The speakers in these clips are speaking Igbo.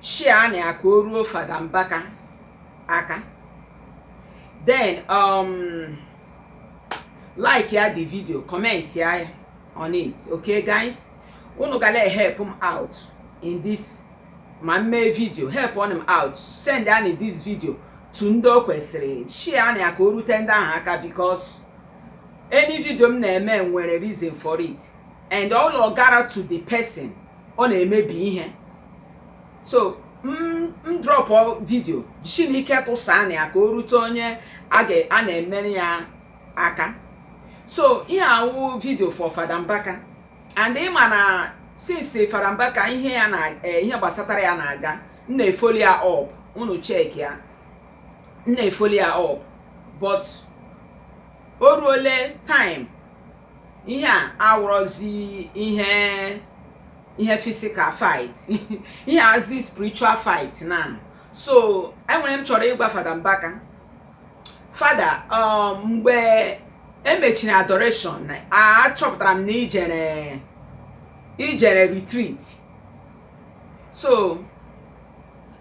share anị ya ka o ruo fada mbaka aka then um, like ya the video comment ya on it okay guys unu ga na-ehelp m out in this ma m mee video helpụnụ m out send anị this video to ndị o kwesịrị share anị ya ka o rute ndị ahụ aka because any video m na-eme nwere reason for it and all gara to the person ọ na-emebi ihe so m drọpụ vidio jisi na ike tụsaa anị ya ka o rute onye a na-emere ya aka so ihe awụ vidio for Fada Mbaka and ịma na since Fada Mbaka ihe ya na eh, ihe gbasatara ya na-aga m na-efoli ya up unu check ya m na-efoli ya up but o ruole time ihe a awụrọzi ihe ihe physical fight ihe azi spiritual fight now so enwere ihe m chọrọ ịgwa fada mbaka fada um, mgbe emechiri adoration achọpụtara m na ijere ijere retreat so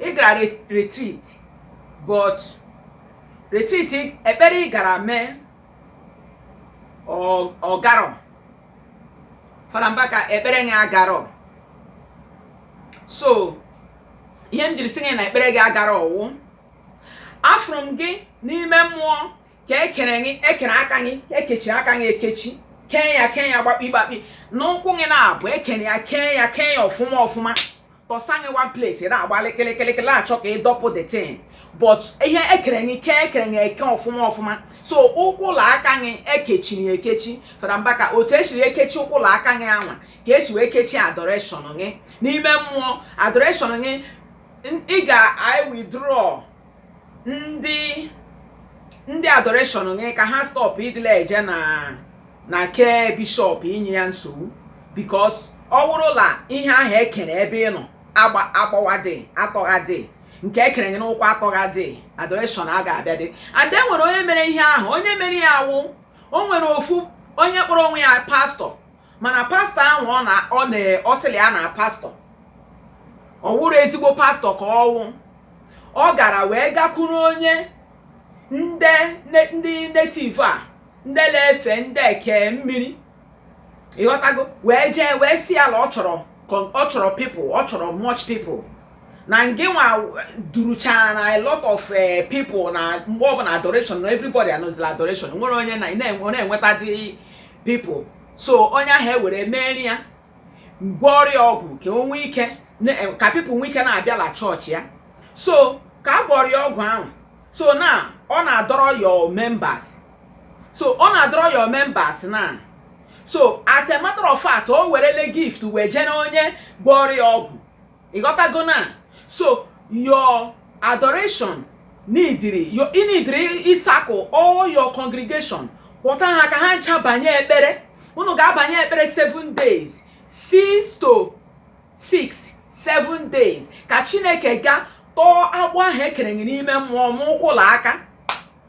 ị gara retreat but retreat ekpere ị gara mee ọgarọ fada mbaka ekpere gị agarọ so ihe m jiri sị gị na ekpere gị agarọ wụ afụrụ m gị n'ime mmụọ ka ekere gị ekere aka gị ka ekechiri aka gị ekechi kee ya kee ya gbakpi gbakpi n'ụkwụ gị n'abụọ ekere ya kee ya kee ya ọfụma ọfụma tọsa gị one place ị na-agbalị kịlịkịlịkịlị achọ ka ịdọpụ the thing but ihe ekere gị eke ekere gị eke ọfụma ọfụma so ụkwụ la aka gị ekechiri ekechi fada mbaka otu esiri ekechi ụkwụ la aka gị anwa ka esi wee kechi adoration gị n'ime mmụọ adoration gị ị ga i withdraw ndị ndị adoreshọn gị ka ha stọpụ ịdịla eje na na ke bishọp inye ya nsogbu bikos ọ wụrụla ihe ahụ ekere ebe ị nọ agbawadị atọghadị nke ekere gị n'ụkwụ atọghadị adoreshọn a ga-abịadị and e nwere onye mere ihe ahụ onye mere ya wụ o nwere ofu onye kpọrọ onwe ya pastọ mana pastọ ahụ ọ na ọ na ọ sịrị ya na pastọ ọ wụrụ ezigbo pastọ ka ọ wụ ọ gara wee gakwuru onye ndị ne- ndị netiv a ndị na-efe ndị eke mmiri ịghọtago wee jee wee sị ya na ọ chọrọ con- ọ chọrọ pipụl ọ chọrọ much pipụl na ngịnwa duruchara na a lot of eh, people na mgbe ọbụla adoration na everybody anọzila adoration nwere onye na na-enwe- na-enweta dị people so onye ahụ ewere meere ya gwọọrọ ya ọgwụ ka o nwee ike na- eh, ka people nwee ike na-abịala chọọchị ya so ka a gwọọrọ ya ọgwụ ahụ so na ọ na-adọrọ your members so ọ na-adọrọ your members na so as a matter of fact o werele gift wee jere onye gwọọrọ ya ọgwụ ị ghọtago na so your adoration nidiri i nidiri ịsakụ all your congregation kpọta ha ka ha ncha banye ekpere unu ga-abanye ekpere 7 days 6 to 6 7 days ka chineke ga tọọ agbụ ahụ e kere gị n'ime mmụọ n'ụkwụ la aka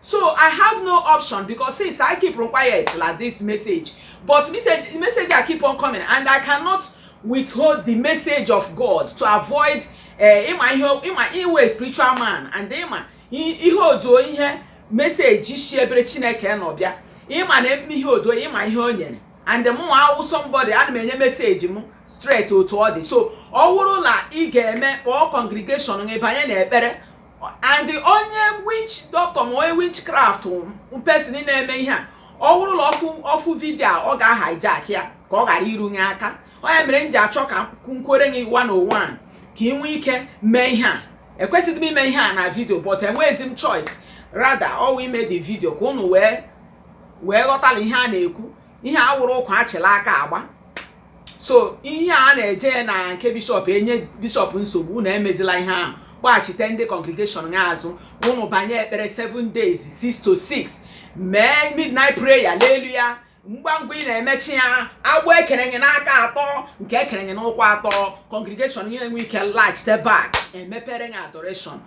so i have no option because since i keep on quiet like this message but message message i keep on coming and i cannot withhold the message of god to avoid eh, ị ma ihe ị ma ị wụ spiritual man and ị ma i- ihe ọ dụ ihe meseji si ebere chineke nọ bịa ịma na eme ihe ọ dụ ị ma ihe o nyere and mụ nwa awụ somebody ana m enye meseji m straight otu ọ dị so ọ wụrụ na ị ga-eme kpọọ congregation gị banye na ekpere and onye witch doctor ma onye witchcraft person na-eme ihe a ọ wụrụ la ọ fụ ọ fụ vidio a ọ ga-ahijack ya ka ọ ghara iru nye aka ọ ya mere m ji achọ ka m kwuoro gị one on one ka ị nwee ike mee ihe a ekwesịghị m ime ihe a na vidio but enweghịzi m choice rather ọ wụ ime the vidio ka unu wee wee ghọtala ihe a na-ekwu ihe a wụrụ ụkwa achịla aka agba so ihe a na-eje na nke bishọp enye bishọp nsogbu unu emezila ihe ahụ kpọghachite ndị kọngregeshọn ya azụ ụnụ banye ekpere 7 days 6 to 6 mee midnight prayer n'elu ya ngwa ngwa ị na-emechi ya agbụ e kere nye n'aka atọọ nke e kere nye n'ụkwụ atọọ kọngregeshọn ya enwee ike laghachite bak emepere ya adoreshọn